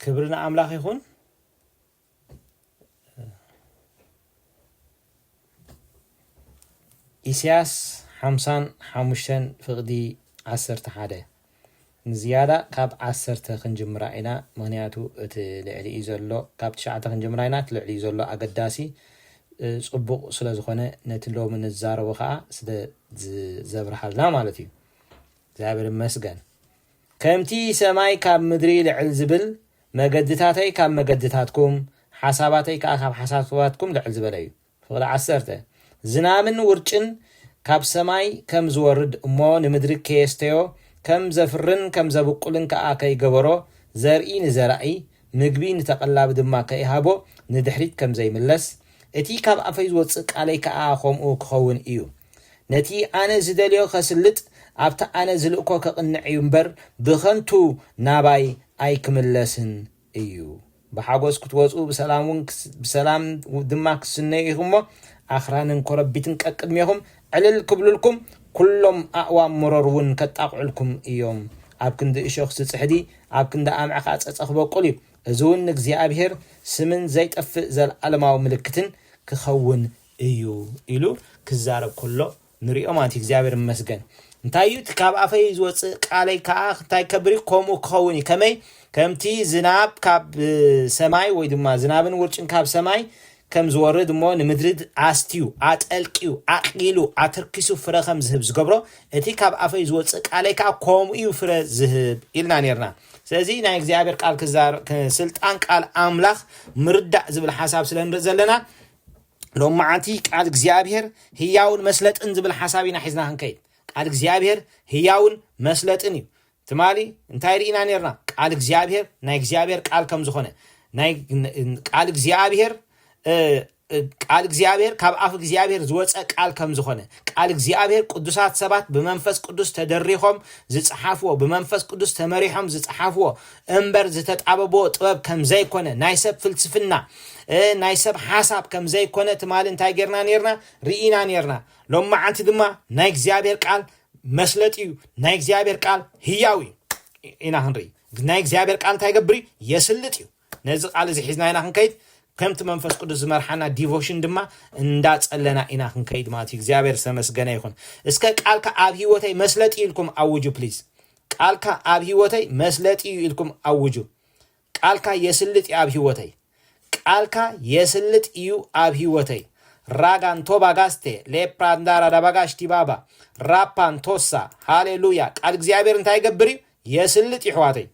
ክብሪ ንኣምላኽ ይኹን። ኢሳያስ ሓምሳን ሓሙሽተን ፍቕዲ ዓሰርተ ሓደ ንዝያዳ ካብ ዓሰርተ ክንጅምራ ኢና ምክንያቱ እቲ ልዕሊ እዩ ዘሎ ካብ ትሽዓተ ክንጅምራ ኢና እቲ ልዕሊ እዩ ዘሎ ኣገዳሲ ፅቡቕ ስለ ዝኾነ ነቲ ሎሚ ንዛረቦ ከዓ ስለ ዘብርሃልና ማለት እዩ እግዚኣብሔር ይመስገን ከምቲ ሰማይ ካብ ምድሪ ልዕል ዚብል፣ መገድታተይ ካብ መገድታትኩም፣ ሓሳባተይ ከኣ ካብ ሓሳባትኩም ልዕል ዝበለ እዩ። ፍቕዲ ዓሰርተ። ዝናምን ውርጭን ካብ ሰማይ ከም ዚወርድ እሞ ንምድሪ ኬስተዮ፣ ከም ዘፍርን ከም ዘብቍልን ከኣ ከይገበሮ፣ ዘርኢ ንዘራኢ፣ ምግቢ ንተቐላቢ ድማ ከይሃቦ ንድሕሪት ከም ዘይምለስ፣ እቲ ካብ ኣፈይ ዝወጽእ ቃለይ ከኣ ኸምኡ ኪኸውን እዩ። ነቲ ኣነ ዝደልዮ ኸስልጥ፣ ኣብቲ ኣነ ዝልእኮ ኸቕንዕ እዩ እምበር፣ ብኸንቱ ናባይ ኣይክምለስን እዩ። ብሓጐስ ክትወጹ፣ ብሰላም ድማ ክትስነዩ ኢኹም እሞ፣ ኣኽራንን ኰረቢትን ቀቅድሜኹም ዕልል ክብሉልኩም፣ ኵሎም ኣእዋም መሮር እውን ከጣቕዑልኩም እዮም። ኣብ ክንዲ እሾኽ ዝጽሕዲ፣ ኣብ ክንዲ ኣምዒ ኸኣ ጸጸ ኽበቍል እዩ፣ እዚ እውን ንእግዚኣብሄር ስምን ዘይጠፍእ ዘለኣለማዊ ምልክትን ክኸውን እዩ ኢሉ ክዛረብ ከሎ ንሪኦ ማለት እዩ እግዚኣብሔር ይመስገን እንታይ እዩ እቲ ካብ ኣፈይ ዝወፅእ ቃለይ ከዓ እንታይ ከብር እዩ ከምኡ ክኸውን እዩ ከመይ ከምቲ ዝናብ ካብ ሰማይ ወይ ድማ ዝናብን ውርጭን ካብ ሰማይ ከም ዝወርድ እሞ ንምድሪ ኣስትዩ ኣጠልቅዩ ኣቕሊሉ ኣትርኪሱ ፍረ ከም ዝህብ ዝገብሮ እቲ ካብ ኣፈይ ዝወፅእ ቃለይ ከዓ ከምኡ እዩ ፍረ ዝህብ ኢልና ነርና ስለዚ ናይ እግዚኣብሔር ቃል ስልጣን ቃል ኣምላኽ ምርዳእ ዝብል ሓሳብ ስለ ንርኢ ዘለና ሎማዓንቲ ቃል እግዚኣብሔር ህያውን መስለጥን ዝብል ሓሳብ ኢና ሒዝና ክንከይድ ቃል እግዚኣብሔር ህያውን መስለጥን እዩ ትማሊ እንታይ ርኢና ነርና ቃል እግዚኣብሔር ናይ እግዚኣብሔር ቃል ከም ዝኾነ ናይ ቃል እግዚኣብሔር ቃል እግዚኣብሔር ካብ ኣፍ እግዚኣብሔር ዝወፀ ቃል ከም ዝኾነ ቃል እግዚኣብሔር ቅዱሳት ሰባት ብመንፈስ ቅዱስ ተደሪኾም ዝፀሓፍዎ ብመንፈስ ቅዱስ ተመሪሖም ዝፀሓፍዎ እምበር ዝተጣበቦ ጥበብ ከምዘይኮነ ናይ ሰብ ፍልስፍና ናይ ሰብ ሓሳብ ከምዘይኮነ ትማሊ እንታይ ጌርና ኔርና ርኢና ኔርና ሎማዓንቲ ድማ ናይ እግዚኣብሔር ቃል መስለጥ እዩ ናይ እግዚኣብሔር ቃል ህያው እዩ ኢና ክንርኢ ናይ እግዚኣብሔር ቃል እንታይ ገብር እዩ የስልጥ እዩ ነዚ ቃል እዚ ሒዝና ኢና ክንከይድ ከምቲ መንፈስ ቅዱስ ዝመርሓና ዲቮሽን ድማ እንዳጸለና ኢና ክንከይድ ማለት እዩ እግዚኣብሔር ዝተመስገነ ይኹን እስከ ቃልካ ኣብ ህይወተይ መስለጥ ኢልኩም ኣውጁ ፕሊዝ ቃልካ ኣብ ሂወተይ መስለጢ እዩ ኢልኩም ኣውጁ ቃልካ የስልጥ እዩ ኣብ ሂወተይ ቃልካ የስልጥ እዩ ኣብ ሂወተይ ራጋ ንቶባ ጋስቴ ሌፕራ ንዳራ ዳባጋሽ ቲባባ ራፓ ንቶሳ ሃሌሉያ ቃል እግዚኣብሔር እንታይ ይገብር እዩ የስልጥ እዩ ሕዋተይ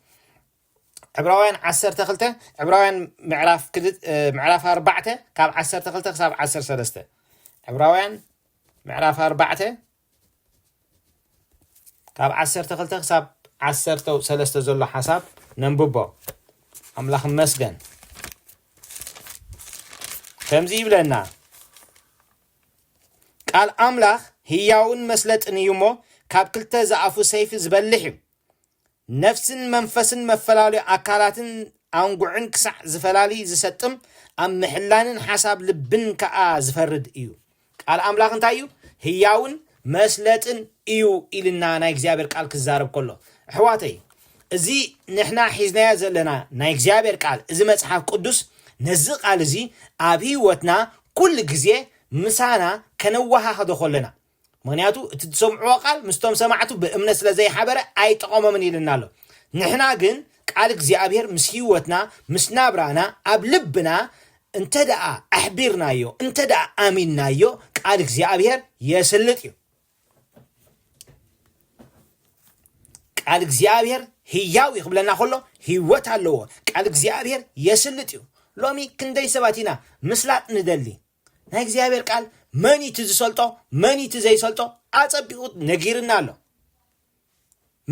ዕብራውያን 12 ዕብራውያን ምዕራፍ ምዕራፍ 4 ካብ 12 ክሳብ 13 ዕብራውያን ምዕራፍ 4 ካብ ዓሰርተ ክልተ ክሳብ ዓሰርተ ሰለስተ ዘሎ ሓሳብ ነንብቦ ኣምላኽ መስገን ከምዚ ይብለና ቃል ኣምላኽ ህያውን መስለጥን እዩ እሞ ካብ ክልተ ዝኣፉ ሰይፊ ዝበልሕ እዩ ነፍስን መንፈስን መፈላለዩ ኣካላትን ኣንጉዕን ክሳዕ ዝፈላሊ ዝሰጥም ኣብ ምሕላንን ሓሳብ ልብን ከኣ ዝፈርድ እዩ ቃል ኣምላኽ እንታይ እዩ ህያውን መስለጥን እዩ ኢልና ናይ እግዚኣብሔር ቃል ክዛረብ ከሎ ኣሕዋተይ እዚ ንሕና ሒዝናዮ ዘለና ናይ እግዚኣብሔር ቃል እዚ መጽሓፍ ቅዱስ ነዚ ቃል እዚ ኣብ ህይወትና ኩሉ ግዜ ምሳና ከነወሃኸዶ ከለና ምኽንያቱ እቲ ዝሰምዕዎ ቃል ምስቶም ሰማዕቱ ብእምነት ስለ ዘይሓበረ ኣይጠቐሞምን ኢልና ኣሎ። ንሕና ግን ቃል እግዚኣብሔር ምስ ሕይወትና ምስ ናብራና ኣብ ልብና እንተ ደኣ ኣሕቢርናዮ እንተ ደኣ ኣሚንናዮ ቃል እግዚኣብሔር የስልጥ እዩ። ቃል እግዚኣብሔር ህያው እዩ ክብለና ከሎ ህይወት ኣለዎ። ቃል እግዚኣብሔር የስልጥ እዩ። ሎሚ ክንደይ ሰባት ኢና ምስላጥ ንደሊ ናይ እግዚኣብሔር ቃል መን እዩ እቲ ዝሰልጦ መን እዩ እቲ ዘይሰልጦ ኣጸቢቑ ነጊርና ኣሎ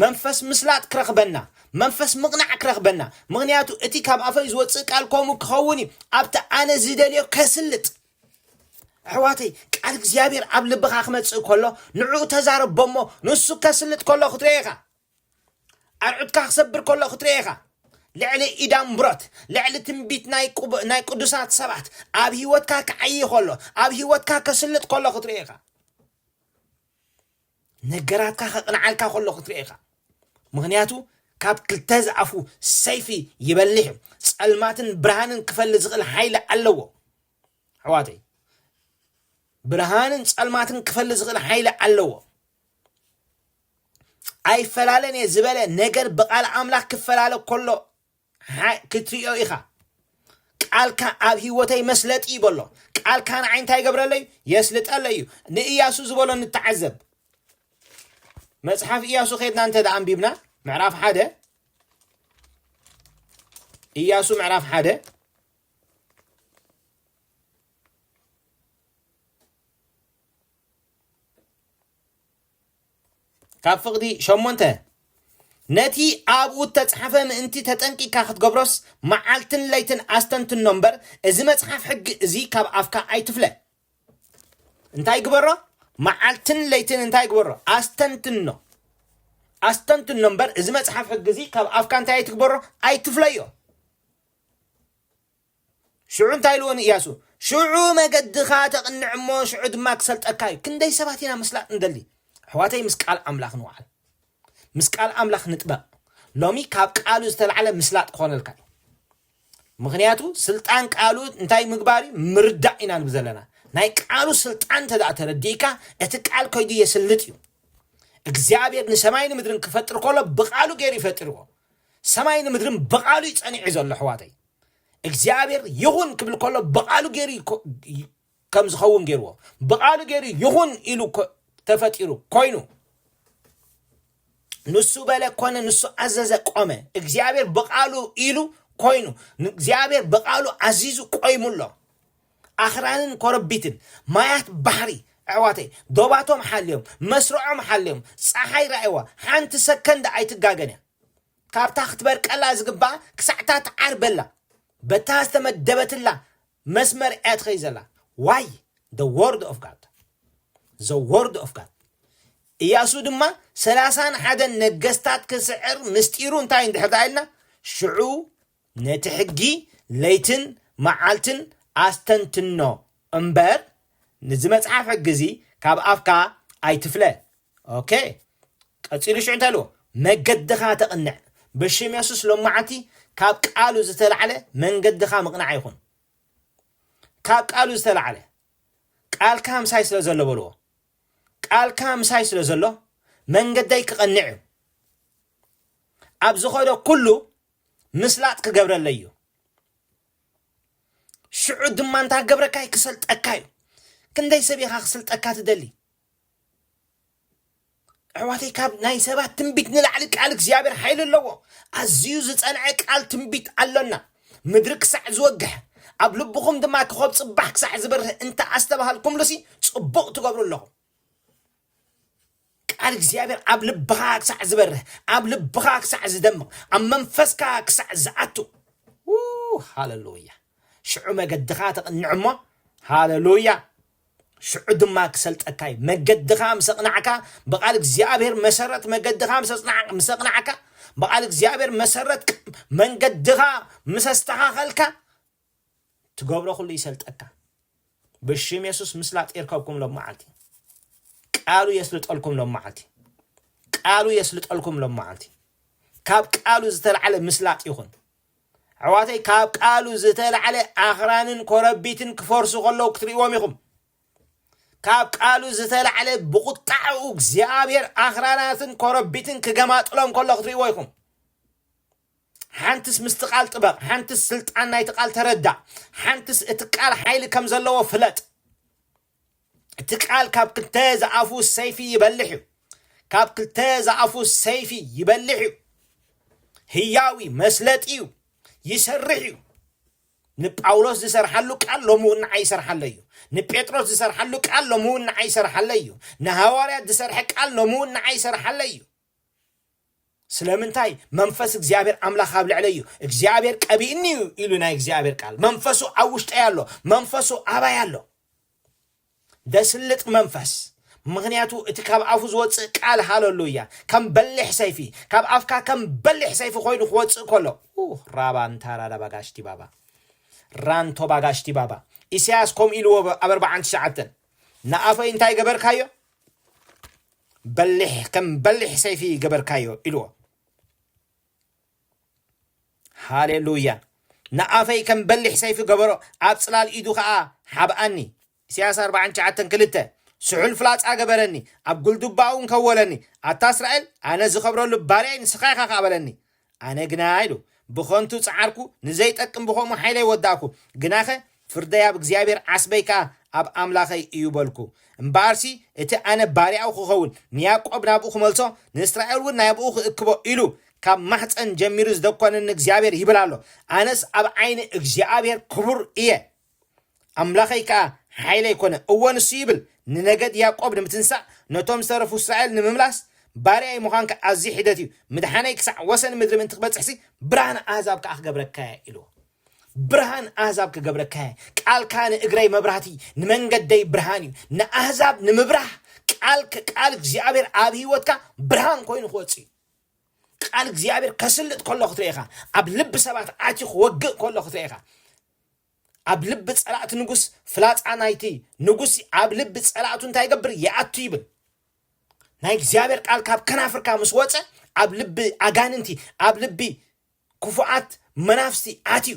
መንፈስ ምስላጥ ክረኽበና መንፈስ ምቕናዕ ክረኽበና ምክንያቱ እቲ ካብ ኣፈይ ዝወፅእ ቃል ከምኡ ክኸውን እዩ ኣብቲ ኣነ ዝደልዮ ከስልጥ ኣሕዋተይ ቃል እግዚኣብሔር ኣብ ልብኻ ክመጽእ ከሎ ንዕኡ ተዛረቦ እሞ ንሱ ከስልጥ ከሎ ክትሪኦ ኢኻ ኣርዑትካ ክሰብር ከሎ ክትርኤ ኢኻ። ልዕሊ ኢዳምብሮት ልዕሊ ትንቢት ናይ ቅቡ- ናይ ቅዱሳት ሰባት ኣብ ህይወትካ ክዓይ ከሎ ኣብ ህይወትካ ከስልጥ ከሎ ክትርኢ ኢኻ ነገራትካ ከቕንዓልካ ከሎ ክትርኢ ኢኻ ምክንያቱ ካብ ክልተ ዝኣፉ ሰይፊ ይበልሕ እዩ ጸልማትን ብርሃንን ክፈሊ ዝኽእል ሓይሊ ኣለዎ ኣሕዋተይ ብርሃንን ጸልማትን ክፈሊ ዝኽእል ሓይሊ ኣለዎ ኣይፈላለን እየ ዝበለ ነገር ብቃል ኣምላኽ ክፈላለ ከሎ ሓ- ክትሪኦ ኢኻ ቃልካ ኣብ ህይወተይ መስለጢ እዩ በሎ ቃልካ ንዓይ እንታይ ይገብረለይ የስልጠለ እዩ ንእያሱ ዝበሎ ንተዓዘብ መጽሓፍ እያሱ ከድና እንተ ደኣ ኣንቢብና ምዕራፍ ሓደ እያሱ ምዕራፍ ሓደ ካብ ፍቕዲ ሸሞንተ ነቲ ኣብኡ እተጽሓፈ ምእንቲ ተጠንቂካ ክትገብሮስ መዓልትን ለይትን ኣስተንትኖ እምበር እዚ መጽሓፍ ሕጊ እዚ ካብ ኣፍካ ኣይትፍለ እንታይ ግበሮ መዓልትን ለይትን እንታይ ግበሮ ኣስተንትኖ ኣስተንትኖ እምበር እዚ መጽሓፍ ሕጊ እዚ ካብ ኣፍካ እንታይ ኣይትግበሮ ኣይትፍለዮ ሽዑ እንታይ ኢልዎ ንእያሱ? ሽዑ መገድኻ ተቕንዕ እሞ፣ ሽዑ ድማ ክሰልጠካ እዩ። ክንደይ ሰባት ኢና ምስላጥ እንደሊ? ኣሕዋተይ ምስ ቃል ኣምላኽ ንውዓል። ምስ ቃል ኣምላኽ ንጥበቕ። ሎሚ ካብ ቃሉ ዝተላዕለ ምስላጥ ክኾነልካ እዩ። ምክንያቱ ስልጣን ቃሉ እንታይ ምግባር እዩ? ምርዳእ ኢና ንብ ዘለና። ናይ ቃሉ ስልጣን እንተ ደኣ ተረዲእካ እቲ ቃል ከይዱ የስልጥ እዩ። እግዚኣብሔር ንሰማይ ንምድርን ክፈጥር ከሎ ብቃሉ ገይሩ ይፈጥርዎ። ሰማይ ንምድርን ብቃሉ እዩ ጸኒዑ ዘሎ ኣሕዋተይ። እግዚኣብሔር ይኹን ክብል ከሎ ብቓሉ ገይሩ ከም ዝኸውን ገይርዎ ብቓሉ ገይሩ ይኹን ኢሉ ተፈጢሩ ኮይኑ ንሱ በለ ኮነ ንሱ ኣዘዘ ቆመ እግዚኣብሔር ብቓሉ ኢሉ ኮይኑ እግዚኣብሔር ብቓሉ ኣዚዙ ቆይሙ ኣሎ ኣኽራንን ኮረቢትን ማያት ባሕሪ ኣሕዋተይ ዶባቶም ሓልዮም መስርዖም ሓልዮም ፀሓይ ራእዋ ሓንቲ ሰከንድ ኣይትጋገን እያ ካብታ ክትበርቀላ ዝግባኣ ክሳዕ'ታ ትዓርበላ በታ ዝተመደበትላ መስመር እያ ትኸይድ ዘላ። ዋይ the word of God the word of God ኢያሱ ድማ ሰላሳን ሓደን ነገስታት ክስዕር ምስጢሩ እንታይ እንድሕር ደኣ ኢልና ሽዑ ነቲ ሕጊ ለይትን መዓልትን ኣስተንትኖ እምበር ንዚ መጽሓፍ ሕጊ እዚ ካብ ኣፍካ ኣይትፍለ ok ቀጺሉ ሽዑ እንታይ ኢልዎ መገድኻ ተቕንዕ ብሽም የሱስ ሎማዓንቲ ካብ ቃሉ ዝተላዕለ መንገድኻ ምቕናዕ ይኹን ካብ ቃሉ ዝተላዕለ ቃልካ ምሳይ ስለ ዘሎ በልዎ ቃልካ ምሳይ ስለ ዘሎ መንገደይ ክቐንዕ እዩ ኣብ ዝኾነ ኩሉ ምስላጥ ክገብረለይ እዩ ሽዑ ድማ እንታ ክገብረካ እዩ ክሰልጠካ እዩ ክንደይ ሰብ ኢኻ ክስልጠካ ትደሊ ኣሕዋተይ ካብ ናይ ሰባት ትንቢት ንላዕሊ ቃል እግዚኣብሔር ሓይሊ ኣለዎ ኣዝዩ ዝፀንዐ ቃል ትንቢት ኣሎና ምድሪ ክሳዕ ዝወግሕ ኣብ ልብኹም ድማ ክኸብ ፅባሕ ክሳዕ ዝበርህ እንተ ኣስተባሃልኩምሉሲ ፅቡቕ ትገብሩ ኣለኹም ቃል እግዚኣብሔር ኣብ ልብኻ ክሳዕ ዝበርህ ኣብ ልብኻ ክሳዕ ዝደምቕ ኣብ መንፈስካ ክሳዕ ዝኣቱ ው፣ ሃለሉያ ሽዑ መገድኻ ተቕንዕ እሞ ሃለሉያ ሽዑ ድማ ክሰልጠካ እዩ መገድኻ ምስ ኣቕናዕካ ብቓል እግዚኣብሔር መሰረት መገድኻ ምስ ኣጽናዕ- ምስ ኣቕናዕካ ብቓል እግዚኣብሔር መሰረት ቅ- መንገድኻ ምስ ኣስተኻኸልካ ትገብሮ ኩሉ ይሰልጠካ ብሽም የሱስ ምስላጥ ይርከብኩም ሎመዓልቲ ቃሉ የስልጠልኩም ሎመዓልቲ ቃሉ የስልጠልኩም ሎመዓልቲ ካብ ቃሉ ዝተላዕለ ምስላጥ ይኹን ኣሕዋተይ ካብ ቃሉ ዝተላዕለ ኣኽራንን ኮረቢትን ክፈርሱ ከለዉ ክትርእዎም ኢኹም ካብ ቃሉ ዝተላዕለ ብቁጣዕኡ እግዚኣብሔር ኣኽራናትን ኮረቢትን ክገማጥሎም ከሎ ክትርእዎ ኢኹም ሓንትስ ምስቲ ቃል ጥበቕ፣ ሓንትስ ስልጣን ናይቲ ቃል ተረዳእ፣ ሓንትስ እቲ ቃል ሓይሊ ከም ዘለዎ ፍለጥ። እቲ ቃል ካብ ክልተ ዝኣፉ ሰይፊ ይበልሕ እዩ። ካብ ክልተ ዝኣፉ ሰይፊ ይበልሕ እዩ። ህያው እዩ፣ መስለጢ እዩ፣ ይሰርሕ እዩ። ንጳውሎስ ዝሰርሓሉ ቃል ሎሚ እውን ንዓይ ይሰርሓለ እዩ ንጴጥሮስ ዝሰርሓሉ ቃል ሎሚ እውን ንዓይ ይሰርሓለ እዩ ንሃዋርያት ዝሰርሐ ቃል ሎሚ እውን ንዓይ ይሰርሓለ እዩ ስለምንታይ መንፈስ እግዚኣብሔር ኣምላኽ ኣብ ልዕለይ እዩ እግዚኣብሔር ቀቢእኒ እዩ ኢሉ ናይ እግዚኣብሔር ቃል መንፈሱ ኣብ ውሽጠይ ኣሎ መንፈሱ ኣባይ ኣሎ ደስልጥ መንፈስ ምክንያቱ እቲ ካብ ኣፉ ዝወፅእ ቃል ሃለሉ እያ ከም በሊሕ ሰይፊ ካብ ኣፍካ ከም በሊሕ ሰይፊ ኮይኑ ክወፅእ ከሎ ራባ እንታራዳ ባጋሽቲ ባባ ራንቶ ባጋሽቲ ባባ ኢሳያስ ከምኡ ኢልዎ ኣብ ኣርባዓን ትሽዓተን ንኣፈይ እንታይ ገበርካዮ በሊሕ ከም በሊሕ ሰይፊ ገበርካዮ ኢልዎ። ሃሌሉያ ንኣፈይ ከም በሊሕ ሰይፊ ገበሮ ኣብ ጽላል ኢዱ ኸኣ ሓብኣኒ ኢሳያስ ኣርብዓን ትሽዓተን ክልተ ስሑል ፍላጻ ገበረኒ ኣብ ጉልዱባኡ እንከወለኒ ኣታ እስራኤል ኣነ ዝኸብረሉ ባርያይ ንስኻ ኢኻ ከኣ በለኒ ኣነ ግና ኢሉ፣ ብኸንቱ ጸዓርኩ፣ ንዘይጠቅም ብኸምኡ ሓይለይ ወዳእኩ። ግናኸ ፍርደይ ኣብ እግዚኣብሄር፣ ዓስበይ ከኣ ኣብ ኣምላኸይ እዩ በልኩ። እምበኣርሲ እቲ ኣነ ባርያኡ ኽኸውን፣ ንያእቆብ ናብኡ ኽመልሶ፣ ንእስራኤልውን ናብኡ ኽእክቦ ኢሉ፣ ካብ ማሕጸን ጀሚሩ ዝደኰነኒ እግዚኣብሄር ይብል ኣሎ። ኣነስ ኣብ ዓይኒ እግዚኣብሄር ክቡር እየ። ኣምላኸይ ከኣ ሓይለይ ኰነ። እወ፣ ንሱ ይብል፣ ንነገድ ያእቆብ ንምትንሳእ፣ ነቶም ዝተረፉ እስራኤል ንምምላስ፣ ባርያይ ምዃንካ ኣዝዩ ሒደት እዩ፣ ምድሓነይ ክሳዕ ወሰን ምድሪ ምእንቲ ክበጽሕሲ፣ ብርሃን ኣህዛብ ከኣ ክገብረካ እየ ኢልዎ። ብርሃን ኣህዛብ ክገብረካ እየ። ቃልካ ንእግረይ መብራህቲ፣ ንመንገደይ ብርሃን እዩ። ንኣህዛብ ንምብራህ ቃል ቃል እግዚኣብሔር ኣብ ህይወትካ ብርሃን ኮይኑ ክወጽእ እዩ። ቃል እግዚኣብሔር ከስልጥ ከሎ ክትርኢ ኢኻ። ኣብ ልቢ ሰባት ኣትዩ ክወግእ ከሎ ክትርኢ ኢኻ። ኣብ ልቢ ጸላእቲ ንጉስ ፍላጻ ናይቲ ንጉስ ኣብ ልቢ ጸላእቱ እንታይ ይገብር ይኣቱ ይብል ናይ እግዚኣብሔር ቃል ካብ ከናፍርካ ምስ ወፀ ኣብ ልቢ ኣጋንንቲ ኣብ ልቢ ክፉኣት መናፍስቲ ኣትዩ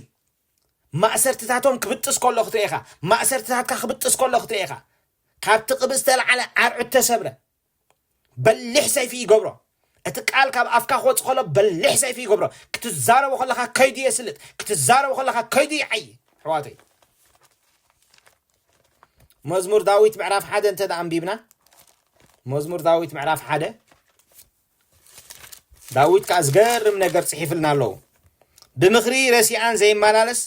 ማእሰርትታቶም ክብጥስ ከሎ ክትርኢ ኢኻ ማእሰርትታትካ ክብጥስ ከሎ ክትርኢ ኢኻ ካብቲ ቅብእ ዝተለዓለ ኣርዑት ተሰብረ በሊሕ ሰይፊ ይገብሮ እቲ ቃል ካብ ኣፍካ ክወጽእ ከሎ በሊሕ ሰይፊ ይገብሮ ክትዛረቦ ከለካ ከይዱ የስልጥ ክትዛረቦ ከለካ ከይዱ ይዓይ ኣሕዋተይ መዝሙር ዳዊት ምዕራፍ ሓደ እንተ ኣንቢብና መዝሙር ዳዊት ምዕራፍ ሓደ ዳዊት ከኣ ዝገርም ነገር ጽሒፍልና ኣሎ ብምኽሪ ረሲኣን ዘይመላለስ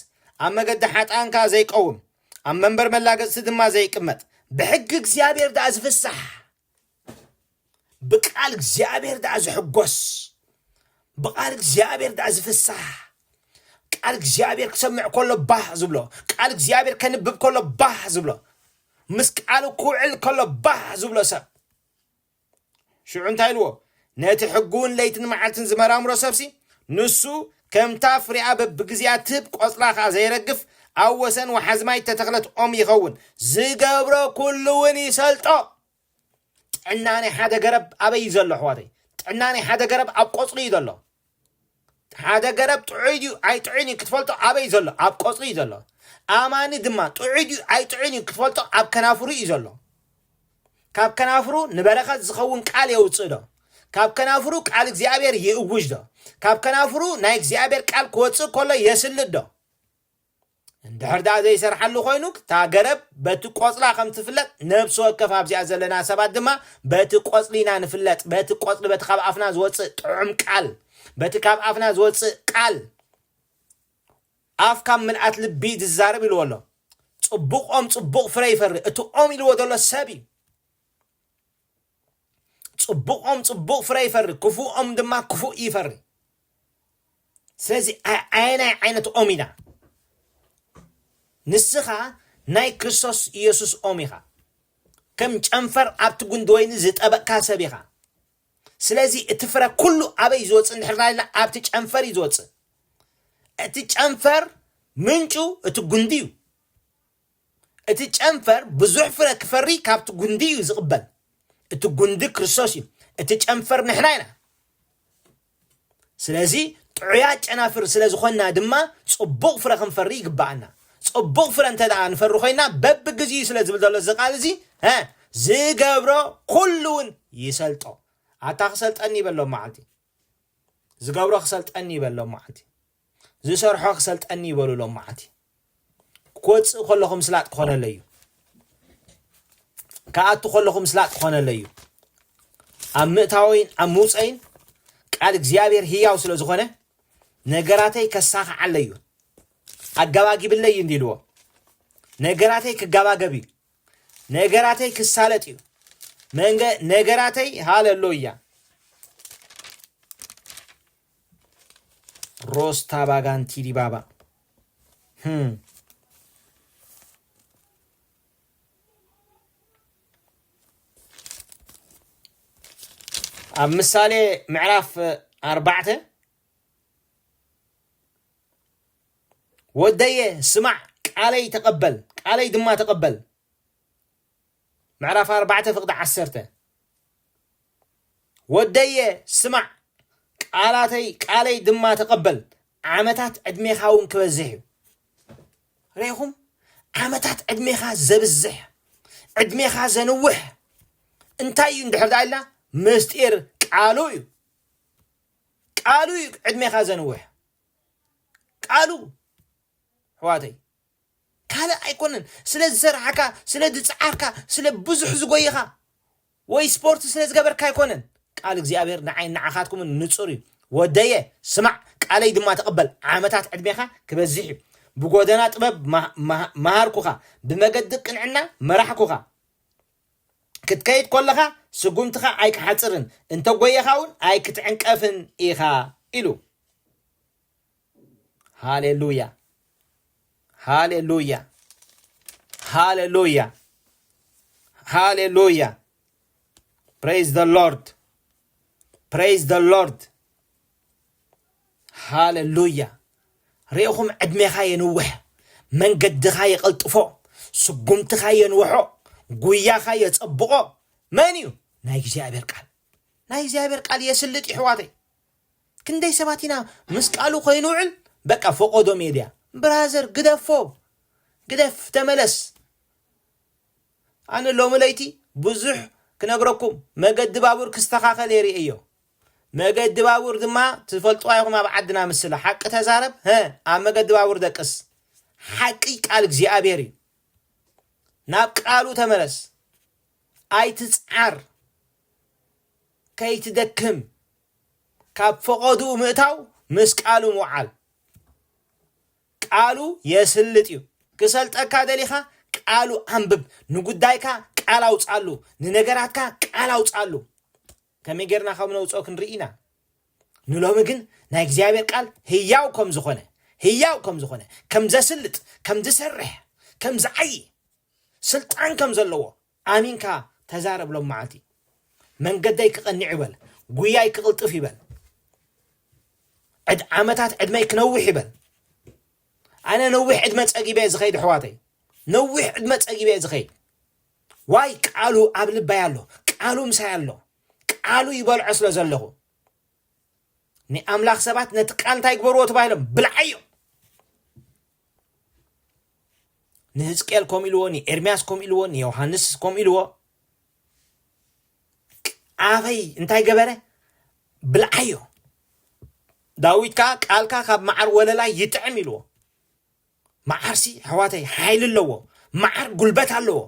ኣብ መገዲ ሓጥኣን ከኣ ዘይቀውም ኣብ መንበር መላገጽቲ ድማ ዘይቅመጥ ብሕጊ እግዚኣብሔር ደኣ ዝፍሳሕ ብቃል እግዚኣብሔር ደኣ ዝሕጎስ ብቃል እግዚኣብሔር ደኣ ዝፍሳሕ ቃል እግዚኣብሔር ክሰምዕ ከሎ ባህ ዝብሎ ቃል እግዚኣብሔር ከንብብ ከሎ ባህ ዝብሎ ምስ ቃሉ ክውዕል ከሎ ባህ ዝብሎ ሰብ ሽዑ እንታይ ኢልዎ? ነቲ ሕጉውን ለይትን መዓልትን ዝመራምሮ ሰብሲ፣ ንሱ ከምታ ፍሬኣ በብግዜኣ ትህብ ቆጽላ ከኣ ዘየረግፍ፣ ኣብ ወሰን ወሓዚ ማይ እተተኽለት ኦም ይኸውን፣ ዝገብሮ ኩሉውን ይሰልጦ። ጥዕና ናይ ሓደ ገረብ ኣበይ እዩ ዘሎ ኣሕዋተይ? ጥዕና ናይ ሓደ ገረብ ኣብ ቆጽሉ እዩ ዘሎ። ሓደ ገረብ ጥዑይ ድዩ ኣይጥዑይን እዩ ክትፈልጦ ኣበይ ዘሎ ኣብ ቆጽሊ እዩ ዘሎ ኣማኒ ድማ ጥዑይ ድዩ ኣይጥዑይን እዩ ክትፈልጦ ኣብ ከናፍሩ እዩ ዘሎ ካብ ከናፍሩ ንበረኸት ዝኸውን ቃል የውፅእ ዶ ካብ ከናፍሩ ቃል እግዚኣብሔር ይእውጅ ዶ ካብ ከናፍሩ ናይ እግዚኣብሔር ቃል ክወፅእ ከሎ የስልጥ ዶ እንድሕር ደኣ ዘይሰርሓሉ ኮይኑ እታ ገረብ በቲ ቆጽላ ከም ትፍለጥ ነብሲ ወከፍ ኣብዚኣ ዘለና ሰባት ድማ በቲ ቆጽሊ ኢና ንፍለጥ በቲ ቆጽሊ በቲ ካብ ኣፍና ዝወጽእ ጥዑም ቃል በቲ ካብ ኣፍና ዝወጽእ ቃል ኣፍ ካብ ምልኣት ልቢ ዝዛረብ ኢልዎ ኣሎ ጽቡቕ ኦም ጽቡቕ ፍረ ይፈሪ እቲ ኦም ኢልዎ ዘሎ ሰብ እዩ ጽቡቆም ጽቡቅ ፍረ ይፈሪ ክፉኦም ድማ ክፉእ ይፈሪ ስለዚ ኣየናይ ዓይነት ኦም ኢና ንስኻ ናይ ክርስቶስ ኢየሱስ ኦም ኢኻ ከም ጨንፈር ኣብቲ ጉንዲ ወይኒ ዝጠበቅካ ሰብ ኢኻ ስለዚ እቲ ፍረ ኩሉ ኣበይ ዝወፅእ እንድሕርና ኢልና ኣብቲ ጨንፈር እዩ ዝወፅእ እቲ ጨንፈር ምንጩ እቲ ጉንዲ እዩ እቲ ጨንፈር ብዙሕ ፍረ ክፈሪ ካብቲ ጉንዲ እዩ ዝቕበል። እቲ ጉንዲ ክርስቶስ እዩ፣ እቲ ጨንፈር ንሕና ኢና። ስለዚ ጥዑያት ጨናፍር ስለ ዝኾንና ድማ ጽቡቕ ፍረ ክንፈሪ ይግብኣና። ጽቡቕ ፍረ እንተ ደኣ ንፈሪ ኮይና በብግዚኡ ስለ ዝብል ዘሎ እዚ ቃል እዚ ዝገብሮ ኩሉ እውን ይሰልጦ። ኣታ ክሰልጠኒ ይበሎ መዓልቲ ዝገብሮ ክሰልጠኒ ይበሎ መዓልቲ ዝሰርሖ ክሰልጠኒ ይበሉ ሎማዓንቲ ክወፅእ ከለኹ ምስላጥ ክኾነለይ እዩ ክኣቱ ከለኹ ምስላጥ ክኾነለይ እዩ ኣብ ምእታወይን ኣብ ምውፀይን ቃል እግዚኣብሔር ህያው ስለ ዝኾነ ነገራተይ ከሳኽዓለይ እዩ ኣጋባጊብለይ እዩ እንዲልዎ ነገራተይ ክጋባገብ እዩ ነገራተይ ክሳለጥ እዩ ነገራተይ ሃለሎያ ሮስታ ባጋንቲ ዲባባ ህም ኣብ ምሳሌ ምዕራፍ ኣርባዕተ ወደየ ስማዕ ቃለይ ተቐበል ቃለይ ድማ ተቐበል ምዕራፍ ኣርባዕተ ፍቕዲ ዓሰርተ ወደየ ስማዕ ቃላተይ ቃለይ ድማ ተቐበል ዓመታት ዕድሜኻ እውን ክበዝሕ እዩ ርኢኹም ዓመታት ዕድሜኻ ዘብዝሕ ዕድሜኻ ዘንውሕ እንታይ እዩ እንድሕር ዳ ኢልና ምስጢር ቃሉ እዩ ቃሉ እዩ ዕድሜኻ ዘንውሕ ቃሉ ሕዋተይ ካልእ ኣይኮነን ስለ ዝሰራሕካ ስለ ዝጻዓርካ ስለ ብዙሕ ዝጎይኻ ወይ ስፖርት ስለ ዝገበርካ ኣይኮነን ቃል እግዚኣብሔር ንዓይን ንዓኻትኩምን ንጹር እዩ ወደየ ስማዕ ቃለይ ድማ ተቐበል ዓመታት ዕድሜኻ ክበዝሕ እዩ ብጎደና ጥበብ መሃርኩኻ ብመገዲ ቅንዕና መራሕኩኻ ክትከይድ ኮለኻ ስጉምትኻ ኣይክሓጽርን እንተጎየኻ እውን ኣይክትዕንቀፍን ኢኻ ኢሉ ሃሌሉያ ሃሌሉያ ሃሌሉያ ሃሌሉያ ፕሬዝ ዘ ሎርድ ፕሬዝ ዘ ሎርድ ሃሌሉያ ርኢኹም ዕድሜኻ የንውሕ መንገድኻ የቐልጥፎ ስጉምትኻ የንውሖ ጉያኻ የጸብቖ መን እዩ ናይ እግዚኣብሔር ቃል ናይ እግዚኣብሔር ቃል የስልጥ ይሕዋተይ ክንደይ ሰባት ኢና ምስ ቃሉ ከይንውዕል በቃ ፎቆዶ ሜድያ ብራዘር ግደፎ ግደፍ ተመለስ ኣነ ሎሚ ለይቲ ብዙሕ ክነግረኩም መገዲ ባቡር ክስተኻኸል እየ ርእየዮ መገዲ ባቡር ድማ ትፈልጥዋ ኢኹም ኣብ ዓድና ምስላ ሓቂ ተዛረብ ሀ ኣብ መገዲ ባቡር ደቅስ ሓቂ ቃል እግዚኣብሔር እዩ ናብ ቃሉ ተመለስ ኣይትፅዓር ከይትደክም ካብ ፈቐድኡ ምእታው ምስ ቃሉ ምውዓል። ቃሉ የስልጥ እዩ። ክሰልጠካ ደሊኻ ቃሉ ኣንብብ። ንጉዳይካ ቃል ኣውጽኣሉ። ንነገራትካ ቃል ኣውጽኣሉ። ከመይ ጌርና ከም ነውጽኦ ክንርኢ ኢና። ንሎሚ ግን ናይ እግዚኣብሔር ቃል ህያው ከም ዝኾነ ህያው ከም ዝኾነ ከም ዘስልጥ ከም ዝሰርሕ ከም ዝዓዪ ስልጣን ከም ዘለዎ ኣሚንካ ተዛረብ ሎምዓልቲ መንገደይ ክቐኒዕ ይበል ጉያይ ክቕልጥፍ ይበል ዕድ ዓመታት ዕድመይ ክነውሕ ይበል ኣነ ነዊሕ ዕድመ ጸጊበ ዝኸይድ ኣሕዋተይ ነዊሕ ዕድመ ጸጊበ ዝኸይድ ዋይ ቃሉ ኣብ ልባይ ኣሎ ቃሉ ምሳይ ኣሎ ቃሉ ይበልዖ ስለ ዘለኹ ንኣምላኽ ሰባት ነቲ ቃል እንታይ ግበርዎ ተባሂሎም ብልዓዮ ንህዝቅኤል ከምኡ ኢልዎ ንኤርምያስ ከምኡ ኢልዎ ንዮሃንስ ከምኡ ኢልዎ ኣበይ እንታይ ገበረ ብልዓዮ ዳዊት ከዓ ቃልካ ካብ መዓር ወለላ ይጥዕም ኢልዎ መዓርሲ ኣሕዋተይ ሓይሊ ኣለዎ መዓር ጉልበት ኣለዎ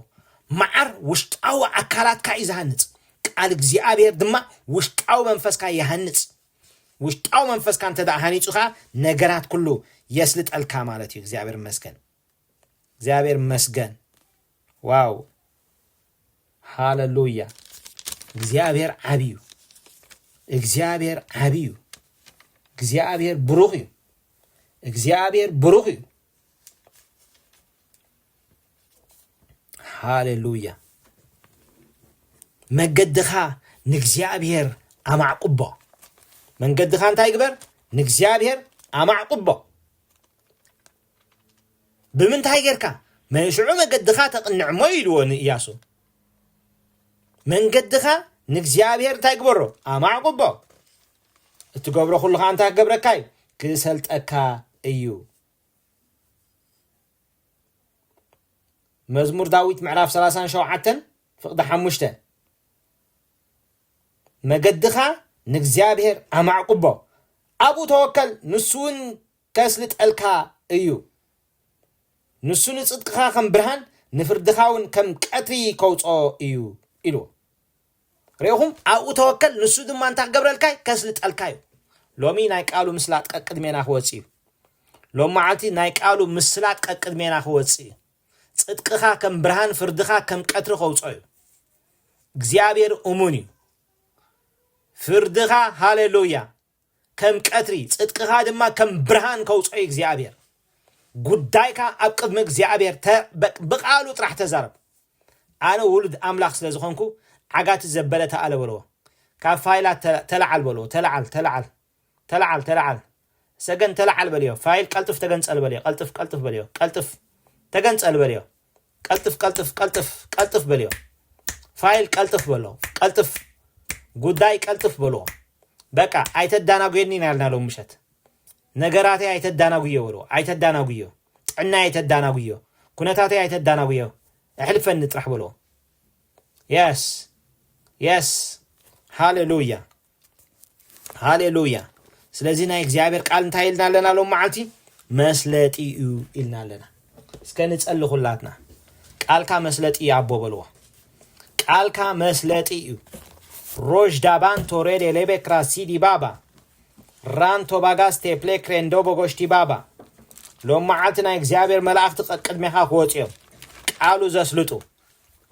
መዓር ውሽጣዊ ኣካላትካ እዩ ዝሃንፅ ቃል እግዚኣብሔር ድማ ውሽጣዊ መንፈስካ ይሃንፅ ውሽጣዊ መንፈስካ እንተደኣ ሃኒጹ ከኣ ነገራት ኩሉ የስልጠልካ ማለት እዩ እግዚኣብሔር ይመስገን እግዚኣብሔር ይመስገን ዋው ሃለሉያ እግዚኣብሔር ዓብዩ እግዚኣብሔር ዓብዩ እግዚኣብሔር ብሩኽ እዩ እግዚኣብሔር ብሩኽ እዩ ሃሌሉያ መገድኻ ንእግዚኣብሔር ኣማዕቁቦ መንገድኻ እንታይ ግበር ንእግዚኣብሔር ኣማዕቁቦ ብምንታይ ጌርካ መንሽዑ መገድኻ ተቕንዕ እሞ ኢልዎ ንእያሱ መንገድኻ ንእግዚኣብሔር እንታይ ግበሮ ኣማዕቁቦ እትገብሮ ኩሉ ከዓ እንታይ ክገብረካ እዩ ክሰልጠካ እዩ መዝሙር ዳዊት ምዕራፍ ሰላሳን ሸውዓተን ፍቕዲ ሓሙሽተ መገድኻ ንእግዚኣብሔር ኣማዕቁቦ ኣብኡ ተወከል ንሱ እውን ከስልጠልካ እዩ ንሱ ንጽድቅኻ ከም ብርሃን ንፍርድኻ እውን ከም ቀትሪ ከውፅኦ እዩ ኢልዎ ርኢኹም ኣብኡ ተወከል ንሱ ድማ እንታይ ክገብረልካ እዩ ከስልጠልካ እዩ ሎሚ ናይ ቃሉ ምስላጥ ቀቅድሜና ክወጽእ እዩ ሎም መዓልቲ ናይ ቃሉ ምስላጥ ቀቅድሜና ክወጽእ እዩ ጽድቅኻ ከም ብርሃን ፍርድኻ ከም ቀትሪ ከውጾ እዩ እግዚኣብሔር እሙን እዩ ፍርድኻ ሃሌሉያ ከም ቀትሪ፣ ጽድቅኻ ድማ ከም ብርሃን ከውጽኦ እዩ እግዚኣብሔር። ጉዳይካ ኣብ ቅድሚ እግዚኣብሔር ተ- በ- ብቃሉ ጥራሕ ተዛረብ። ኣነ ውሉድ ኣምላኽ ስለ ዝኾንኩ ዓጋቲ ዘበለ ተኣለ በልዎ። ካብ ፋይላት ተ- ተለዓል በልዎ። ተለዓል ተለዓል ተለዓል ተለዓል ሰገን ተለዓል በልዮ። ፋይል ቀልጥፍ ተገንጸል በልዮ። ቀልጥፍ ቀልጥፍ በልዮ። ቀልጥፍ ተገንጸል በልዮ። ቀልጥፍ ቀልጥፍ ቀልጥፍ ቀልጥፍ በልዮ ፋይል ቀልጥፍ በሎ ቀልጥፍ ጉዳይ ቀልጥፍ በልዎ በቃ ኣይተዳናጉየኒ ኢና ያልና ሎም ምሸት ነገራተይ ኣይተዳናጉዮ በልዎ ኣይተዳናጉዮ ጥዕናይ ኣይተዳናጉዮ ኩነታተይ ኣይተዳናጉዮ እሕልፈኒ ጥራሕ በልዎ የስ የስ ሃሌሉያ ሃሌሉያ ስለዚ ናይ እግዚኣብሔር ቃል እንታይ ኢልና ኣለና ሎም መዓልቲ መስለጢ እዩ ኢልና ኣለና እስከ ንጸሊ ኩላትና ቃልካ መስለጢ እዩ ኣቦ በልዎ ቃልካ መስለጢ እዩ ሮዥ ዳባን ቶሬድ ኤሌቤ ክራሲዲ ባባ ራንቶ ባጋስ ቴፕሌ ክሬንዶ ቦጎሽቲ ባባ ሎም መዓልቲ ናይ እግዚኣብሔር መላእኽቲ ቅድሜኻ ክወፅ እዮም ቃሉ ዘስልጡ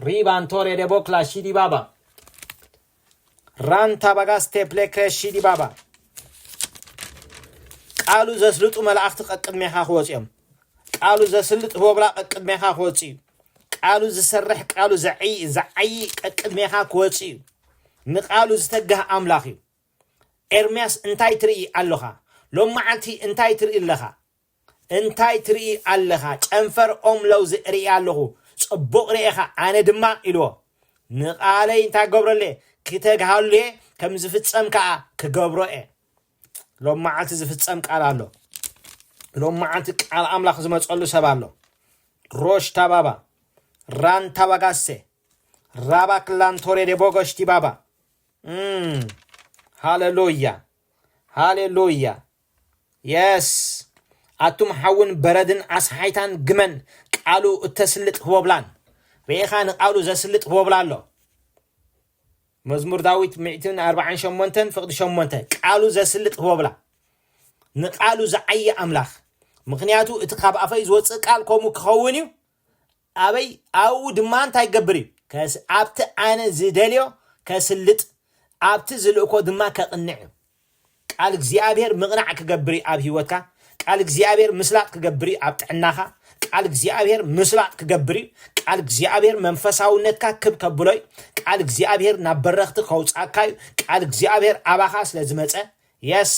ሪባን ቶሬ ደቦክላ ሺዲ ባባ ራን ታባጋስ ቴፕሌ ክሬሺ ዲባባ ቃሉ ዘስልጡ መላእኽቲ ቀቅድሜኻ ክወፅኦም ቃሉ ዘስልጥ ህቦብላ ቀቅድሜኻ ክወፅ እዩ ቃሉ ዝሰርሕ ቃሉ ዝዓይ ቀቅድሜኻ ክወፅ እዩ ንቃሉ ዝተጋህ ኣምላኽ እዩ ኤርምያስ እንታይ ትርኢ ኣለኻ ሎም መዓልቲ እንታይ ትርኢ ኣለኻ እንታይ ትርኢ ኣለኻ? ጨንፈር ኦም ለውዚ እርኢ ኣለኹ። ጽቡቕ ርኤኻ፣ ኣነ ድማ ኢልዎ፣ ንቓለይ እንታይ ክገብረሉ'የ? ክተግሃሉ'የ፣ ከም ዝፍጸም ከኣ ክገብሮ'የ። ሎም መዓልቲ ዝፍጸም ቃል ኣሎ። ሎም መዓልቲ ቃል ኣምላኽ ዝመጸሉ ሰብ ኣሎ። ሮሽ ታባባ ራን ታባጋሴ ራባ ክላንቶሬ ደቦጎሽ ቲባባ ሃሌሉያ ሃሌሉያ የስ ኣቱም ሓውን በረድን ኣስሓይታን ግመን ቃሉ እተስልጥ ህቦብላን ርኤኻ ንቃሉ ዘስልጥ ህቦብላ ኣሎ መዝሙር ዳዊት ሚእትን ኣርባዓን ሸሞንተን ፍቕዲ ሸሞንተ ቃሉ ዘስልጥ ህቦብላ ንቃሉ ዝዓየ ኣምላኽ ምክንያቱ እቲ ካብ ኣፈይ ዝወፅእ ቃል ከምኡ ክኸውን እዩ ኣበይ ኣብኡ ድማ እንታይ ክገብር እዩ? ከስ ኣብቲ ኣነ ዝደልዮ ከስልጥ ኣብቲ ዝልእኮ ድማ ከቕንዕ እዩ። ቃል እግዚኣብሔር ምቕናዕ ክገብር እዩ ኣብ ህይወትካ፣ ቃል እግዚኣብሔር ምስላጥ ክገብር እዩ ኣብ ጥዕናኻ፣ ቃል እግዚኣብሔር ምስላጥ ክገብር እዩ፣ ቃል እግዚኣብሔር መንፈሳውነትካ ክብ ከብሎ እዩ፣ ቃል እግዚኣብሔር ናብ በረኽቲ ከውጻካ እዩ፣ ቃል እግዚኣብሔር ኣባኻ ስለ ዝመጸ የስ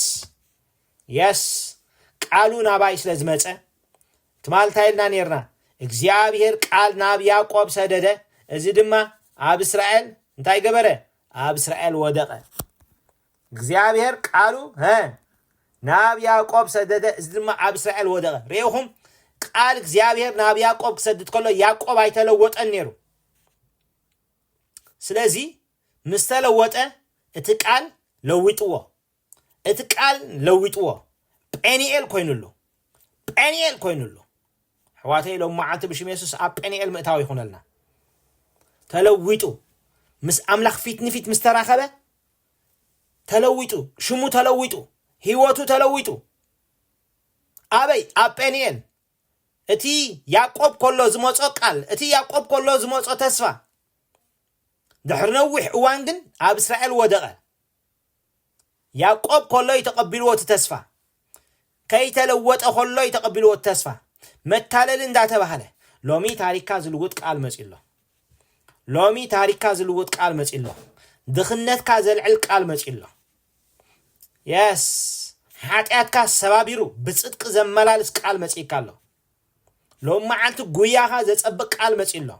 የስ ቃሉ ናባይ ስለ ዝመጸ ትማል ታይ ኢልና ኔርና እግዚኣብሄር ቃል ናብ ያቆብ ሰደደ እዚ ድማ ኣብ እስራኤል እንታይ ገበረ ኣብ እስራኤል ወደቀ እግዚኣብሄር ቃሉ ሀ ናብ ያቆብ ሰደደ እዚ ድማ ኣብ እስራኤል ወደቀ ርኢኹም ቃል እግዚኣብሄር ናብ ያቆብ ክሰድድ ከሎ ያቆብ ኣይተለወጠን ነይሩ ስለዚ ምስ ተለወጠ እቲ ቃል ለዊጥዎ እቲ ቃል ለዊጥዎ ጴኒኤል ኮይኑሉ ጴኒኤል ኮይኑሉ ኣሕዋተይ ሎም መዓልቲ ብሽም የሱስ ኣብ ጴኒኤል ምእታው ይኹነልና ተለዊጡ ምስ ኣምላኽ ፊት ንፊት ምስ ተራኸበ ተለዊጡ ሽሙ ተለዊጡ ህይወቱ ተለዊጡ ኣበይ ኣብ ጴኒኤል እቲ ያዕቆብ ከሎ ዝመጾ ቃል እቲ ያዕቆብ ከሎ ዝመጾ ተስፋ ድሕሪ ነዊሕ እዋን ግን ኣብ እስራኤል ወደቐ ያእቆብ ከሎ እዩ ተቐቢልዎ እቲ ተስፋ። ከይተለወጠ ከሎ እዩ ተቐቢልዎ እቲ ተስፋ። መታለሊ እንዳተባህለ ሎሚ ታሪክካ ዝልውጥ ቃል መፅዩ ኣሎ። ሎሚ ታሪክካ ዝልውጥ ቃል መፅዩ ኣሎ። ድኽነትካ ዘልዕል ቃል መፅዩ ኣሎ። የስ ሓጢኣትካ ሰባቢሩ ብፅድቂ ዘመላልስ ቃል መፅእካ ኣሎ። ሎሚ መዓልቲ ጉያኻ ዘጸብቅ ቃል መጺኡ ኣሎ።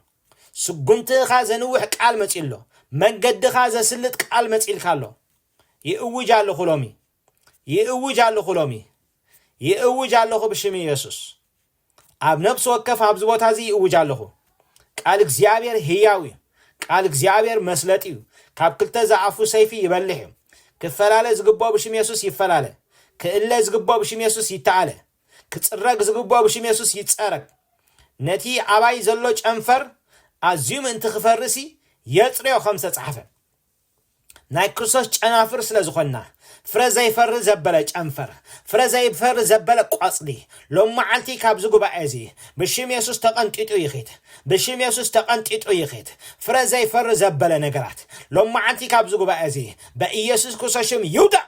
ስጉምትኻ ዘንውሕ ቃል መጺኡ ኣሎ። መንገድኻ ዘስልጥ ቃል መጺልካ ኣሎ። ይእውጅ ኣለኹ ሎሚ ይእውጅ ኣለኹ ሎሚ ይእውጅ ኣለኹ ብሽም ኢየሱስ ኣብ ነብሲ ወከፍ ኣብዚ ቦታ እዚ ይእውጅ ኣለኹ። ቃል እግዚኣብሔር ህያው እዩ። ቃል እግዚኣብሔር መስለጥ እዩ። ካብ ክልተ ዝኣፉ ሰይፊ ይበልሕ እዩ። ክፈላለ ዝግብኦ ብሽም የሱስ ይፈላለ። ክእለ ዝግብኦ ብሽም የሱስ ይተኣለ። ክጽረግ ዝግብኦ ብሽም የሱስ ይጸረግ። ነቲ ኣባይ ዘሎ ጨንፈር ኣዝዩ ምእንቲ ክፈርስሲ የጽርዮ ከም ዝተጻሕፈ። ናይ ክርስቶስ ጨናፍር ስለ ዝኾንና ፍረ ዘይፈሪ ዘበለ ጨንፈር፣ ፍረ ዘይፈሪ ዘበለ ቆጽሊ ሎም መዓልቲ ካብዚ ጉባኤ እዚ ብሽም የሱስ ተቐንጢጡ ይኺድ። ብሽም የሱስ ተቐንጢጡ ይኺድ። ፍረ ዘይፈሪ ዘበለ ነገራት ሎም መዓልቲ ካብዚ ጉባኤ እዚ በኢየሱስ ክርስቶስ ሽም ይውደቕ።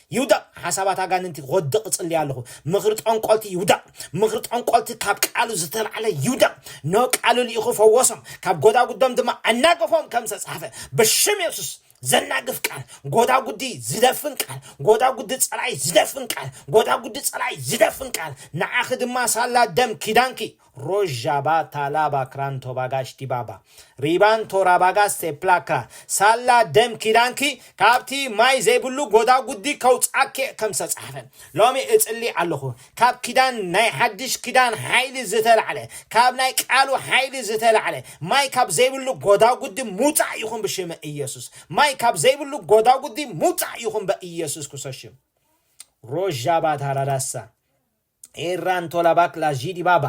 ይውደቕ ሓሳባት ኣጋንንቲ ክወድቕ እጽሊ ኣለኹ ምኽሪ ጠንቆልቲ ይውደቕ ምኽሪ ጠንቆልቲ ካብ ቃሉ ዝተላዕለ ይውደቕ ኖ ቃሉ ልኢኹ ፈወሶም ካብ ጎዳጉዶም ድማ ኣናገፎም ከም ዝተጻሕፈ ብሽም የሱስ ዘናግፍ ቃል ጎዳጉዲ ዝደፍን ቃል ጎዳጉዲ ጸላይ ዝደፍን ቃል ጎዳጉዲ ጸላይ ዝደፍን ቃል ንዓኺ ድማ ሳላ ደም ኪዳንኪ ሮዣባ ታላባ ክራን ቶባጋሽ ዲባባ ሪባን ቶራባጋስ ሴፕላ ክራን ሳላ ደም ኪዳንኪ ካብቲ ማይ ዘይብሉ ጎዳጉዲ ከውጽኣኪ'የ ከም ዝተጻሕፈ ሎሚ እጽሊ ኣለኹ ካብ ኪዳን ናይ ሓድሽ ኪዳን ሓይሊ ዝተላዕለ ካብ ናይ ቃሉ ሓይሊ ዝተላዕለ ማይ ካብ ዘይብሉ ጎዳጉዲ ምውጻእ ይኹን ብሽመ ኢየሱስ ማይ ካብ ዘይብሉ ጎዳጉዲ ምውጻእ ይኹን በኢየሱስ ክርስቶስ ሽም ሮዣባ ታራዳሳ ኤራን ቶላ ባክላ ዢዲ ባባ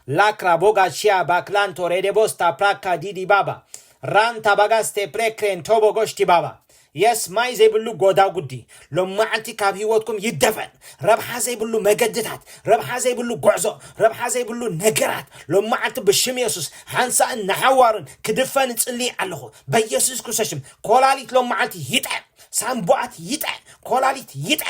ላክራ ቦጋ ሺያ ባክላን ቶሬ ዴቦስታ ፕራካ ዲዲ ባባ ራን ታባጋስቴ ፕሬክሬን ቶቦ ጎሽቲ ባባ የስ ማይ ዘይብሉ ጎዳጉዲ ሎማዓንቲ ካብ ሂወትኩም ይደፈን ረብሓ ዘይብሉ መገድታት ረብሓ ዘይብሉ ጎዕዞ ረብሓ ዘይብሉ ነገራት ሎማዓንቲ ብሽም የሱስ ሓንሳእን ንሓዋሩን ክድፈን እጽሊ ኣለኹ በየሱስ ክርስቶስ ሽም ኮላሊት ሎማዓንቲ ይጥዐ ሳንቡኣት ይጥዐ ኮላሊት ይጥዐ